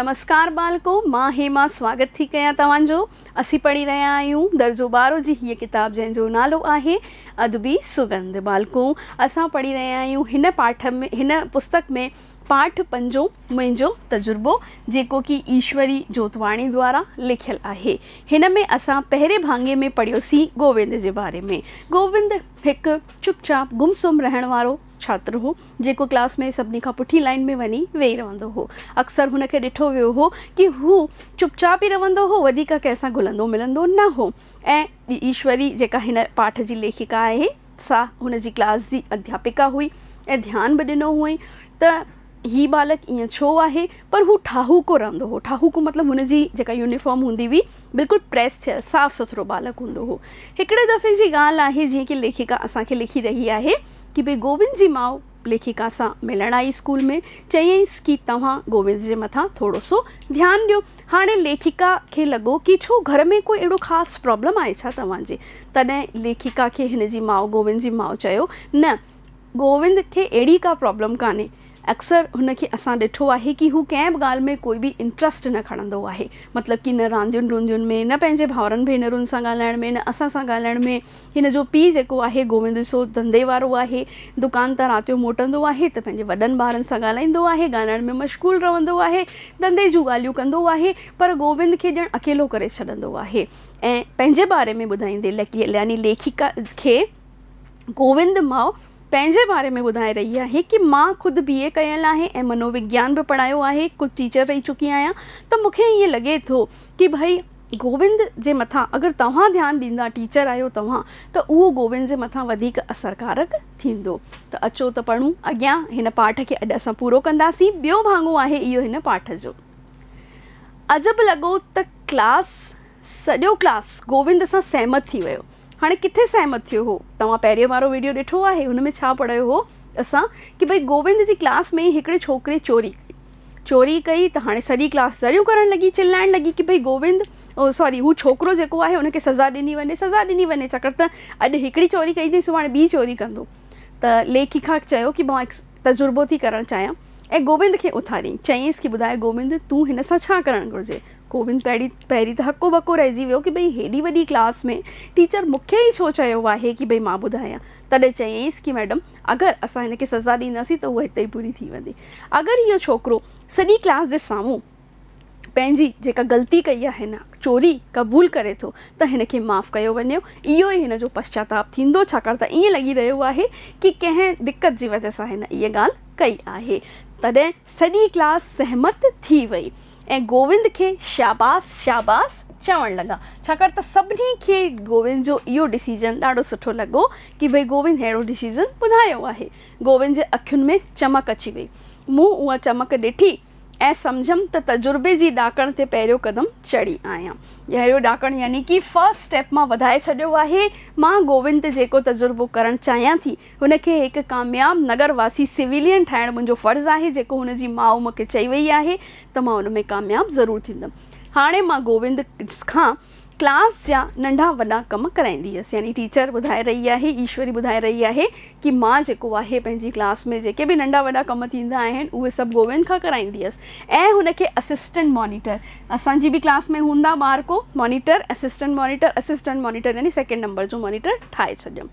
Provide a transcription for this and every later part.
نمسڪار ٻالڪو، مان هيما سواگت ٿي ڪيان توهان جو. اسين پڙهي رهيا آهيون درجو ٻارهون جي هيء ڪتاب جنهن جو نالو آهي ادبي سڳنڌ. ٻالڪو اسان پڙهي رهيا آهيون هن پاٺ ۾ هن پستڪ ۾ پاٺ پنجون منهنجو تجربو جيڪو ڪي ايشوري جوتواڻي دوارا لکيل آهي. هن ۾ اسان پهرين ڀاڱي ۾ پڙهيوسين گووند جي باري ۾. گووند هڪ چپ چاپ گم سم رهڻ وارو. ڇاتر هو، جيڪو ڪلاس ۾ سڀني کان پٺين لائين ۾ وڃي ويهي رهندو هو. اڪثر هن کي ڏٺو ويو هو ڪي هو چپ چاپ ئي رهندو هو، وڌيڪ ڪنهن سان گهلندو ملندو نه هو ۽ ايشوري جيڪا هن پاٺ جي ليکڪا آهي سا هن جي ڪلاس جي اڌياپڪا هئي ۽ ڌيان به ڏنو هئائين ته هي ٻالڪ ايئن ڇو آهي پر هو ٺاهوڪو رهندو هو، ٺاهوڪو مطلب هن جي جيڪا يونيفارم هوندي هئي بلڪل پريس ٿيل صاف سٿرو ٻالڪ هوندو هو. هڪڙي دفعي جي ڳالهه آهي جيئن ڪي ليکڪا اسان کي لکي رهي آهي. ڪي به گوبند جي ماء ليکڪا سان ملڻ آئي اسڪول ۾ چيائينس ڪي توهان گوبند جي مٿان ٿورو سو ڌيان ڏيو هاڻي ليکڪا کي لڳو ڪي ڇو گهر ۾ ڪو اهڙو خاص پرابلم آهي ڇا توهان جي تڏهن ليکڪا کي هن جي ماء گوبند جي ماء چيو نه گوبند کي اهڙي ڪا پرابلم ڪانهي اڪثر هن کي اسان ڏٺو آهي ڪي هو ڪنهن به ڳالهه ۾ ڪوئي به انٽرسٽ نه کڻندو آهي مطلب ڪي نه راندين روندين ۾ نه پنهنجي ڀائرن ڀينرن سان ڳالهائڻ ۾ نه اسان سان ڳالهائڻ ۾ هن جو پي جيڪو آهي گووند سو ڌنڌي وارو آهي دڪان تان رات جو موٽندو آهي ته پنهنجي وڏن ٻارن سان ڳالهائيندو آهي ڳالهائڻ ۾ مشغول رهندو آهي ڌنڌي جون ڳالهيون ڪندو آهي پر گووند کي ڄڻ اڪيلو ڪري ڇڏندو آهي ۽ پنهنجي باري ۾ ٻڌائيندي يعني ليکڪا کي گووند ماء پنهنجي باري ۾ ٻڌائي رهي آهي ڪي مان خود بي اي ڪيل آهي ۽ منووگيان به پڙهايو آهي خود ٽيچر رهي چڪي آهيان ته مون کي ائين لڳي ٿو ڪي ڀئي گووند جي مٿان اگر توهان ڌيان ڏيندا ٽيچر آهيو توهان ته اهو گووند جي مٿان وڌيڪ اثر ڪارڪ ٿيندو ته اچو ته پڙهون اڳيان هن پاٺ کي اڄ اسان پورو ڪنداسين ٻيو ڀاڱو آهي اهو هن پاٺ جو عجب لڳو ته ڪلاس سڄو ڪلاس گووند سان سهمت ٿي ويو هاڻي ڪٿي سهمت ٿيو هو؟ توهان پهريون وارو ويڊيو ڏٺو آهي هن ۾ ڇا پڙهيو هو اسان ڪي ڀئي گوبند جي ڪلاس ۾ ئي هڪڙي ڇوڪري چوري ڪئي چوري ڪئي ته هاڻي سڄي ڪلاس زريون ڪرڻ لڳي چلائڻ لڳي ڪي ڀئي گوبند سوري هو ڇوڪرو جيڪو آهي ان کي سزا ڏني وڃي سزا ڏني وڃي ڇاڪاڻ ته اڄ هڪڙي چوري ڪئي ٿي سڀاڻي ٻي چوري ڪندو ته ليکي کان چيو ڪي مان تجربو ٿي ڪرڻ چاهيان ۽ گوبند کي اٿاريائين چيائينس ڪي ٻڌاء گوبند تون هن سان ڇا ڪرڻ گهرجي گوبند پهرين پهرين ته هڪو ٻڪو رهجي ويو ڪي ڀئي هيڏي وڏي ڪلاس ۾ ٽيچر مون کي ئي ڇو چيو آهي ڪي ڀئي مان ٻڌايان؟ تڏهن چيائينس ڪي ميڊم اگر اسان هن کي سزا ڏينداسين ته هوء هتي ئي پوري ٿي ويندي. اگر اهو ڇوڪرو سڄي ڪلاس جي سامهون پنهنجي جيڪا غلطي ڪئي آهي نه چوري قبول ڪري ٿو ته هن کي معاف ڪيو وڃي اهو ئي هن جو پشچاتاپ ٿيندو ڇاڪاڻ ته ائين لڳي رهيو آهي ڪي ڪنهن دقت جي وجه سان هن اهي ڳالهه ڪئي آهي. تڏهن سڄي ڪلاس سهمت ٿي وئي. ۽ گووند کي شاباس شاباس چوڻ لڳا ڇاڪاڻ ته سڀني کي گووند جو اهو ڊسيزن ڏاڍو سٺو لڳو ڪي ڀئي گووند ههڙو ڊسيزن ٻڌايو آهي گووند جي اکين ۾ چمڪ اچي وئي مون اها چمڪ ڏٺي ۽ سمجهيم ته تجربي جي ڏاڪڻ تي پهريون قدم چڙهي آهيان جهڙو ڏاڪڻ يعني ڪي فرسٽ اسٽيپ مان وڌائي ڇڏيو آهي مان گووند تي جيڪو تجربو ڪرڻ چاهيان ٿي هن کي هڪ ڪامياب نگر واسي سويلين ٺاهڻ منهنجو فرض آهي، جيڪو هن جي ماء مون کي چئي ويئي آهي ته مان ان ۾ ڪامياب ضرور ٿيندم. هاڻي مان گووند کان ڪلاس جا ننڍا وڏا ڪم ڪرائيندي هيس. يعني ٽيچر ٻڌائي رهي آهي، ايشوري ٻڌائي رهي آهي ڪي مان جيڪو آهي پنهنجي ڪلاس ۾ جيڪي به ننڍا وڏا ڪم ٿيندا آهن اهي سڀ گووند کان ڪرائيندي هيس ۽ هن کي اسسٽنٽ مانيٽر اسان جي به ڪلاس ۾ هوندا ٻار ڪو monitor assistant monitor assistant monitor يعني سيڪنڊ نمبر جو مانيٽر ٺاهي ڇڏيم.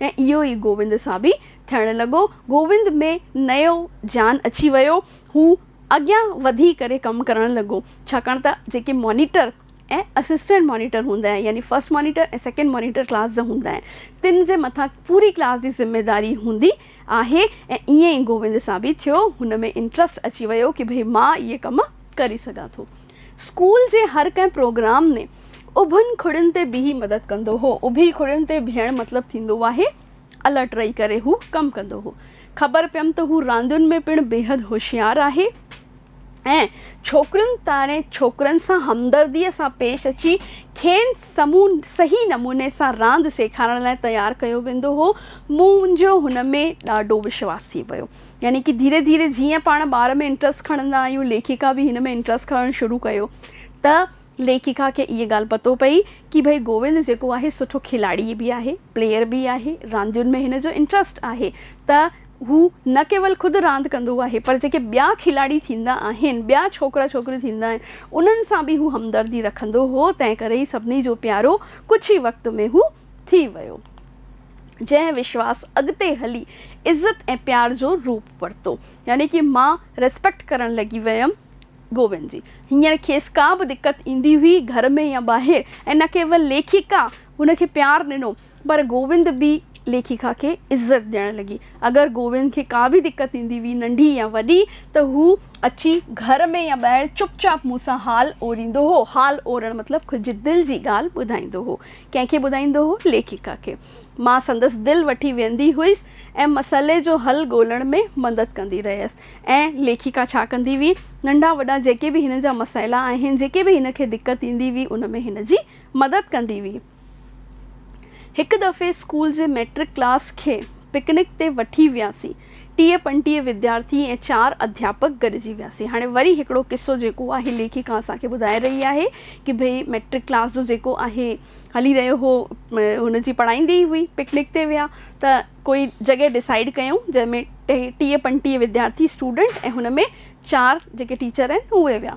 ۽ اهو ئي گووند سان به ٿيڻ لڳو. گووند ۾ نئيو جان اچي ويو. هو اڳيان وڌي ڪري ڪم ڪرڻ لڳو. ڇاڪاڻ ته جيڪي مانيٽر ۽ اسسٽنٽ مانيٽر هوندا آهن يعني first monitor ۽ second monitor class جا هوندا آهن تن جي مٿان پوري ڪلاس جي ذميداري هوندي آهي ۽ ائين ئي گووند سان به ٿيو. هن ۾ انٽرسٽ اچي ويو ڪي ڀئي مان اهي ڪم ڪري سگهان ٿو. اسڪول جي هر ڪنهن پروگرام ۾ اڀن کڙين تي بيهي مدد ڪندو هو. اڀي کڙين تي بيهڻ مطلب ٿيندو آهي الرٽ رهي ڪري هو ڪم ڪندو هو. خبر پيم ته هو راندين ۾ پڻ بيحد هوشيار آهي ۽ ڇوڪرين توڻي ڇوڪرن سان همدرديء سان پيش اچي کين صحيح نموني سان راند سيکارڻ لاء تيار ڪيو ويندو هو. منهنجو هن ۾ ڏاڍو وشواس ٿي پيو. يعني ڪي ڌيري ڌيري جيئن پاڻ ٻار ۾ انٽرسٽ کڻندا آهيون ليکڪا به هن ۾ انٽرسٽ کڻڻ شروع ڪيو ته ليکڪا کي اها ڳالهه پتو پئي ڪي ڀئي گووند جيڪو آهي سٺو کلاڙي به آهي پليئر به آهي راندين ۾ هن جو انٽرسٽ آهي ته هو نه ڪيول خود راند ڪندو آهي پر جيڪي ٻيا کلاڙي ٿيندا آهن ٻيا ڇوڪرا ڇوڪريون ٿيندا آهن انهن سان به هو همدردي رکندو هو تنهن ڪري هي سڀني جو پيارو ڪجهه ئي وقت ۾ هو ٿي ويو، جنهن وشواس اڳتي هلي عزت ۽ پيار جو روپ ورتو، يعني ڪي مان Respect ڪرڻ لڳي ويم گوبند جي. هينئر کيس ڪا به دقت ايندي هئي گهر ۾ يا ٻاهر ۽ نه ڪيول ليکڪا هن کي پيار ڏنو پر گوبند به ليکڪا کي عزت ڏيڻ لڳي. اگر گوبند کي ڪا به دقت ايندي هئي ننڍي يا وڏي ته هو اچي گهر ۾ يا ٻاهر چپ چاپ مون سان حال اوريندو هو، حال اورڻ مطلب ڪجهه دل جي ڳالهه ٻڌائيندو هو. ڪنهن کي ٻڌائيندو هو؟ ليکڪا کي. مان سندس دل وٺي ويهندي هئس ۽ مسئلي جو حل ڳولڻ ۾ مدد ڪندي رهيس. ۽ ليکڪا ڇا ڪندي هئي؟ ننڍا وڏا جيڪي به هن جا مسئلا آهن، جيڪي به هن کي دقت ايندي هئي، ان ۾ هن جي مدد ڪندي هئي. هڪ دفعي اسڪول جي مئٽرڪ ڪلاس کي پڪنڪ تي وٺي وياسين. ٽيهه پنجٽيهه وديارٿي ۽ چار اڌياپڪ گڏجي وياسين. هاڻي وري هڪڙو قصو جيڪو آهي ليکڪا اسان کي ٻڌائي رهي آهي ڪي ڀئي مئٽرڪ ڪلاس جو جيڪو آهي هلي رهيو هو هن جي پڙهائيندي ئي هئي پڪنڪ تي ويا ته ڪوئي جڳهه ڊسائيڊ ڪيون جنهن ۾ ٽيهه پنجٽيهه وديارٿي اسٽوڊنٽ ۽ هن ۾ چار جيڪي ٽيچر آهن اهي ويا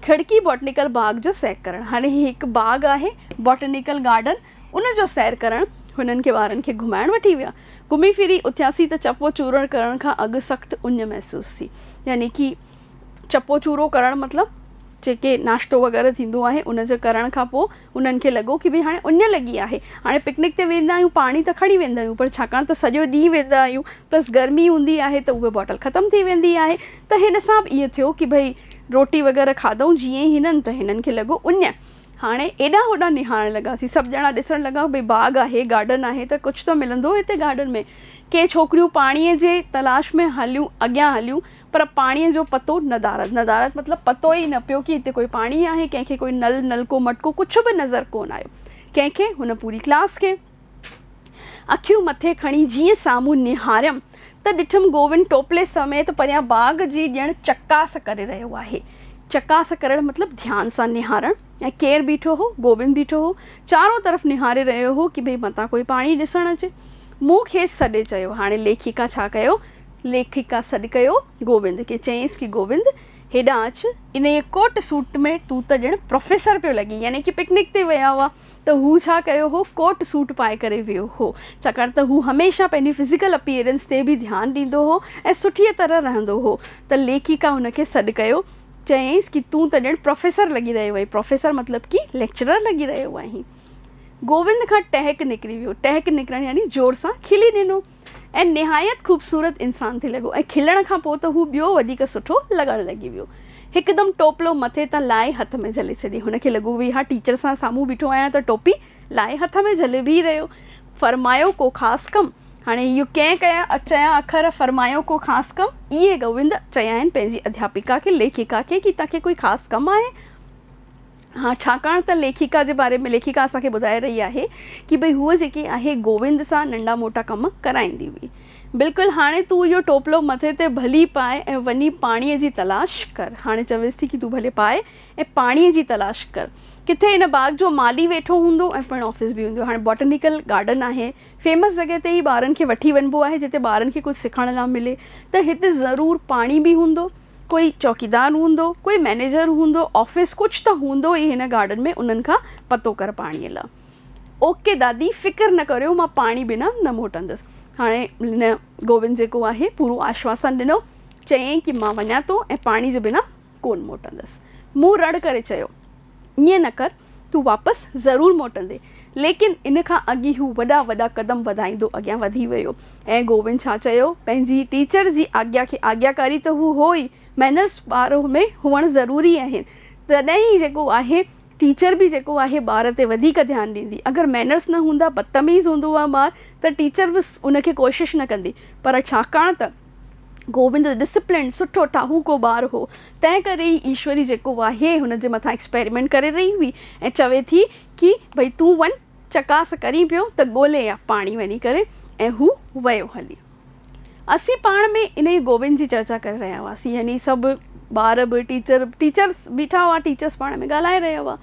کڙڪي باٽنيڪل باغ جو سيڪ ڪرڻ هاڻي هي هڪ باغ آهي باٽنيڪل گارڊن ان جو سير ڪرڻ هنن کي وارن کي گهمائڻ وٺي ويا. گهمي ڦري اٿياسين ته چپو چورڻ ڪرڻ کان اڳ سخت اڃ محسوس ٿي. يعني ڪي چپو چورو ڪرڻ مطلب جيڪي ناشتو وغيره ٿيندو آهي ان جي ڪرڻ کان پوء انهن کي لڳو ڪي ڀي هاڻي اڃ لڳي آهي هاڻي پڪنڪ تي ويندا آهيون پاڻي ته کڻي ويندا آهيون پر ڇاڪاڻ ته سڄو ڏينهن ويندا آهيون پلس گرمي هوندي آهي ته اهي باٽل ختم ٿي ويندي آهي ته هن سان به ائين ٿيو ڪي ڀئي روٽي وغيره کاڌئون جيئن ئي هنن ته هنن کي لڳو اڃ هاڻي ايڏانهن هوڏانهن نهارڻ لڳاسين. سڀ ڄڻا ڏسڻ لڳا، ڀئي باغ آهي، گارڊن آهي ته ڪجهه ته ملندو هتي گارڊن ۾. ڪي ڇوڪريون پاڻيء جي تلاش ۾ هليون اڳيان هليون، پر پاڻيء جو پتو ندارت، ندارت مطلب پتو ئي نه پيو ڪي هتي ڪوئي پاڻي آهي، ڪنهن کي ڪوئي نل، نلڪو، مٽڪو ڪجهه به نظر ڪونه آيو، ڪنهن کي هن پوري ڪلاس کي. اکيون مٿي کڻي جيئن سامهون نهاريم ته ڏٺم گووند ٽوپلي سميت پريان باغ جي ڄڻ چڪاس ڪري رهيو آهي. چڪاس ڪرڻ مطلب ڌيان سان نهارڻ ۽ ڪير بيٺو هو؟ گووند بيٺو هو. چارون طرف نهاري رهيو هو ڪي ڀئي متان ڪوئي پاڻهي ڏسڻ اچي. مون کيس سڏي چيو. هاڻي ليکڪا ڇا ڪيو؟ ليکڪا سڏ ڪيو گووند کي. چيائينس ڪي گووند! هيڏانهن اچ. انهيء ڪوٽ سوٽ ۾ تون ته ڄڻ پروفيسر پيو لڳين. يعني ڪي پڪنڪ تي ويا هئا. ته هو ڇا ڪيو هو، ڪوٽ سوٽ پائي ڪري ويو هو، ڇاڪاڻ ته هو هميشه پنهنجي فزيڪل اپيئرنس تي به ڌيان ڏيندو هو ۽ سٺيء طرح رهندو هو ته ليکڪا هن کي سڏ ڪيو، چيائينس ڪي تون ته ڄڻ پروفيسر لڳي رهيو آهين، پروفيسر مطلب ڪي ليڪچرر لڳي رهيو آهين. گووند کان ٽهڪ نڪري ويو، ٽهڪ نڪرڻ يعني زور سان کلي ڏنو. ۽ نهايت خوبصورت انسان ٿي لڳو ۽ کلڻ کان پوء ته هو ٻيو وڌيڪ سٺو لڳڻ لڳي ويو. هڪدم ٽوپلو مٿي تان لاهي هٿ ۾ جهلي ڇڏي. هن کي لڳو ويهان ٽيچر سان سامهون بيٺو آهيان ته ٽوپي لاهي هٿ ۾ جهلي بيهي رهيو. فرمايو ڪو خاص ڪم؟ هاڻي اهو ڪئين ڪيا چيا اکر فرمايو ڪو خاص ڪم؟ اهي گووند چيائين پنهنجي اڌياپڪا کي، ليکڪا کي ڪي تنهن کي ڪوئي خاص ڪم آهي؟ ها ڇاڪاڻ ته ليکڪا جي باري ۾ ليکڪا اسان کي ٻڌائي رهي آهي ڪي ڀئي هوء جيڪي آهي گووند سان ننڍا موٽا ڪم ڪرائيندي هئي. بلڪل هاڻي تون اهو ٽوپلو مٿي تي ڀلي پاء ۽ وڃي پاڻيء جي تلاش ڪر. هاڻي چويس ٿي ڪي تون ڀلي پاء ۽ پاڻيء جي تلاش ڪر. ڪٿي ان باغ جو مالي ويٺو هوندو ۽ پڻ آفيس به هوندو. هاڻي باٽنيڪل گارڊن آهي. فيمس جڳهه تي ئي ٻارن کي وٺي وڃبو آهي جتي ٻارن کي ڪجهه سکڻ لا ملي ته هتي ضرور پاڻي به هوندو. ڪوئي چوڪيدار هوندو، ڪوئي مئنيجر هوندو، آفيس ڪجهه ته هوندو ئي هن گارڊن ۾ انهن کان پتو ڪر پاڻيء لا. اوڪي دادي فڪر نه ڪريو مان پاڻي بنا نه موٽندس. هاڻي هن گوبند جيڪو آهي پورو آشواسن ڏنو. چيائين ڪي مان وڃان ٿو ۽ پاڻي جي بنا ڪونه موٽندس. مون رڙ ڪري چيو. ائين نه ڪر، تون واپس ضرور موٽندين. ليڪن ان کان اڳ ئي هو وڏا وڏا قدم وڌائيندو اڳيان وڌي ويو ۽ گوبند ڇا چيو، پنهنجي ٽيچر جي آگيا کي آگياڪاري ته هو هو ئي، مئنرز ٻار ۾ هئڻ ضروري آهن، تڏهن ئي جيڪو آهي ٽيچر به جيڪو آهي ٻار تي وڌيڪ ڌيان ڏيندي، اگر مئنرز نه هوندا، بدتميز هوندو ها ٻار ته ٽيچر به ان کي ڪوشش نه ڪندي، پر ڇاڪاڻ ته. گوبند ڊسپلنڊ سٺو ٺاهوڪو ٻار هو، تنهن ڪري ئي ايشوري جيڪو آهي هن جي مٿان ايڪسپيريمينٽ ڪري رهي هئي ۽ چوي ٿي ڪي ڀئي تون وڃ چڪاس ڪرين پيو ته ڳولي آ پاڻي وڃي ڪري ۽ هو ويو هلي. اسين پاڻ ۾ انهي گوبند جي چرچا ڪري رهيا هئاسين يعني سڀ ٻار به ٽيچر ٽيچرس بيٺا هئا ٽيچرس پاڻ ۾ ڳالهائي رهيا هئا.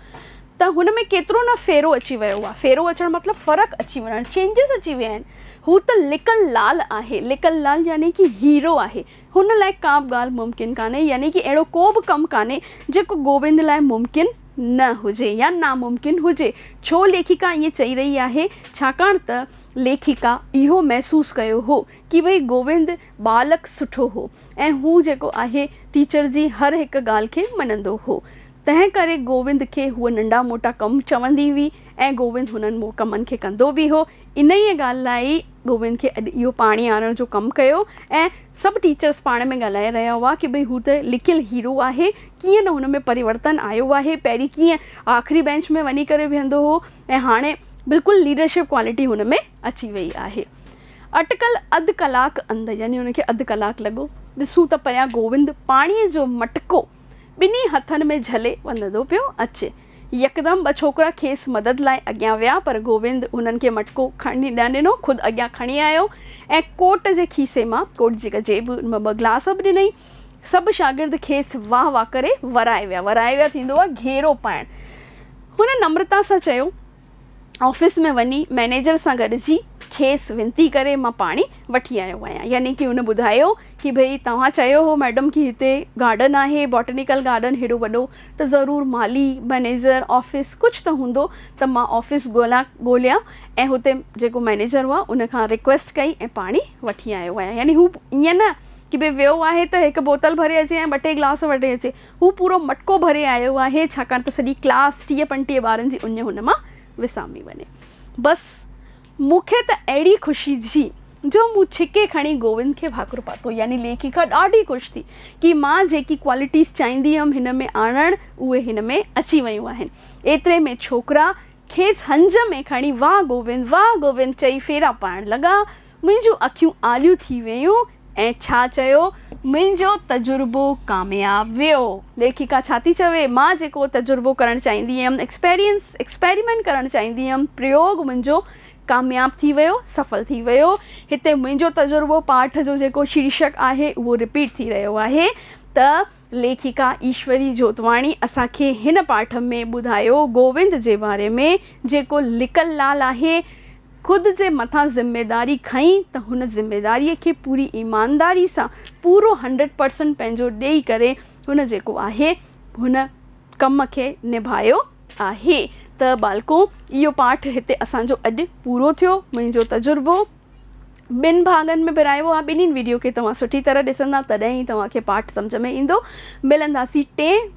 ته هن ۾ ڪيترو نه ڦيرو اچي ويو آهي. ڦيرو اچڻ مطلب فرق اچي وڃڻ، چينجز اچي ويا آهن. هو ته لڪل لال آهي، لڪل لال يعني ڪي هيرو آهي. هن لاء ڪا به ڳالهه ممڪن ڪانهي، يعني ڪي اهڙو ڪو به ڪم ڪانهي، جيڪو گوبند لاء ممڪن نه هجي يا ناممڪن هجي. ڇو ليکڪا ائين چئي رهي آهي؟ ڇاڪاڻ ته ليکڪا اهو محسوس ڪيو هو ڪي ڀئي گوبند ٻالڪ سٺو هو ۽ هو جيڪو آهي ٽيچر جي هر هڪ ڳالهه کي مڃندو هو. تنهن ڪري گووند کي هوء ننڍا موٽا ڪم چوندي هئي ۽ گووند هنن ڪمن کي ڪندو به هو. انهيء ڳالهه لاء ئي گووند کي اڄ اهو پاڻي آڻڻ جو ڪم ڪيو ۽ سڀ ٽيچرس پاڻ ۾ ڳالهائي رهيا هئا ڪي ڀئي هو ته لڪيل هيرو آهي، ڪيئن نه هن ۾ پريورتن آيو آهي، پهرين ڪيئن آخري بينچ ۾ وڃي ڪري ويهندو هو ۽ هاڻي بلڪل ليڊرشپ ڪوالٽي هن ۾ اچي ويئي آهي. اٽڪل اڌ ڪلاڪ اندر يعني هن کي اڌ ڪلاڪ لڳو. ڏسون ته پريان گووند پاڻيء جو مٽڪو ٻنهي هٿن ۾ جهلي وندو پيو اچي. يڪدم ٻه ڇوڪرا کيس مدد لاء اڳيان ويا پر گووند هنن کي مٽڪو کڻڻ نه ڏنو، خود اڳيان کڻي آيو ۽ ڪوٽ جي کيسي مان ڪوٽ جي جيب مان ٻه گلاس به ڏنئين. سڀ شاگرد کيس واهه واهه ڪري ورائي ويا. ورائي ويا ٿيندو آهي گهيرو پائڻ. هن نمرتا سان چيو. آفيس ۾ وڃي مئنيجر سان گڏجي کيس وينتي ڪري مان پاڻي وٺي آيو آهيان يعني ڪي هن ٻڌايو ڪي ڀئي توهان چيو هو مئڊم ڪي هتي گارڊن آهي بوٽينيڪل گارڊن هيڏو وڏو ته ضرور مالي مئنيجر آفيس ڪجهه ته هوندو ته مان آفيس ڳولا ڳوليان ۽ هتي جيڪو مئنيجر هئا ان کان ريڪويسٽ ڪئي ۽ پاڻي وٺي آيو آهيان يعني هو ائين نه ڪي ڀئي ويو آهي ته هڪ بوتل ڀري اچي ۽ ٻه ٽي گلاس وٺي اچي هو پورو مٽڪو ڀري آيو آهي، ڇاڪاڻ ته سڄي ڪلاس ٽيهه پنجٽيهه ٻارن جي اڃ هن مان وسامي وڃي. بس مون کي ته اهڙي خوشي ٿي جو مون ڇڪي کڻي گووند کي ڀاڪر پاتو. يعني ليکڪا ڏاڍي خوش ٿي ڪي مان جيڪي ڪوالٽيز چاهيندي هيم هن ۾ آڻڻ اهي هن ۾ اچي ويون آهن. ايتري ۾ ڇوڪرا کيس هنج ۾ کڻي واهه گووند واهه گووند چئي ڦيرا پائڻ لڳا. منهنجون اکيون آليون ٿي ويون ۽ ڇا چيو منهنجو تجربو ڪامياب ويو. ليکڪا ڇا ٿي چوي، مان جيڪو تجربو ڪرڻ چاهيندي هيم، ايڪسپيرينس، ايڪسپيريمينٽ ڪرڻ چاهيندي هيم، پريوگ منهنجو ڪامياب ٿي ويو، سڦل ٿي ويو. هتي منهنجو تجربو پاٺ جو جيڪو شيرشڪ آهي اهو رپيٽ ٿي رهيو آهي ته ليکڪا ايشوري جوتواڻي اسان کي هن پاٺ ۾ ٻڌايو گووند جي باري ۾ جيڪو لڪل لال آهي خود جي مٿان ذميداري کنئي ته هن ذميداري کي پوري ايمانداري سان پورو هنڊريڊ پرسنٽ پنهنجو ڏئي ڪري هن جيڪو آهي هن ڪم کي نڀايو آهي ته ٻالڪو اهو پاٺ هتي اسان جو اڄ پورو ٿيو منهنجو تجربو ٻن ڀاڱن ۾ ورهايو آهي ٻنهين ويڊيو کي توهان سٺي طرح ڏسندا تڏهن ئي توهان کي پاٺ سمجهه ۾ ايندو ملنداسين ٽئين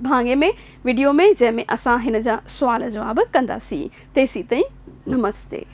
ڀاڱي ۾ ويڊيو ۾ جنهن ۾ اسان هن جا سوال جواب ڪنداسين تيسين تائين نمستي.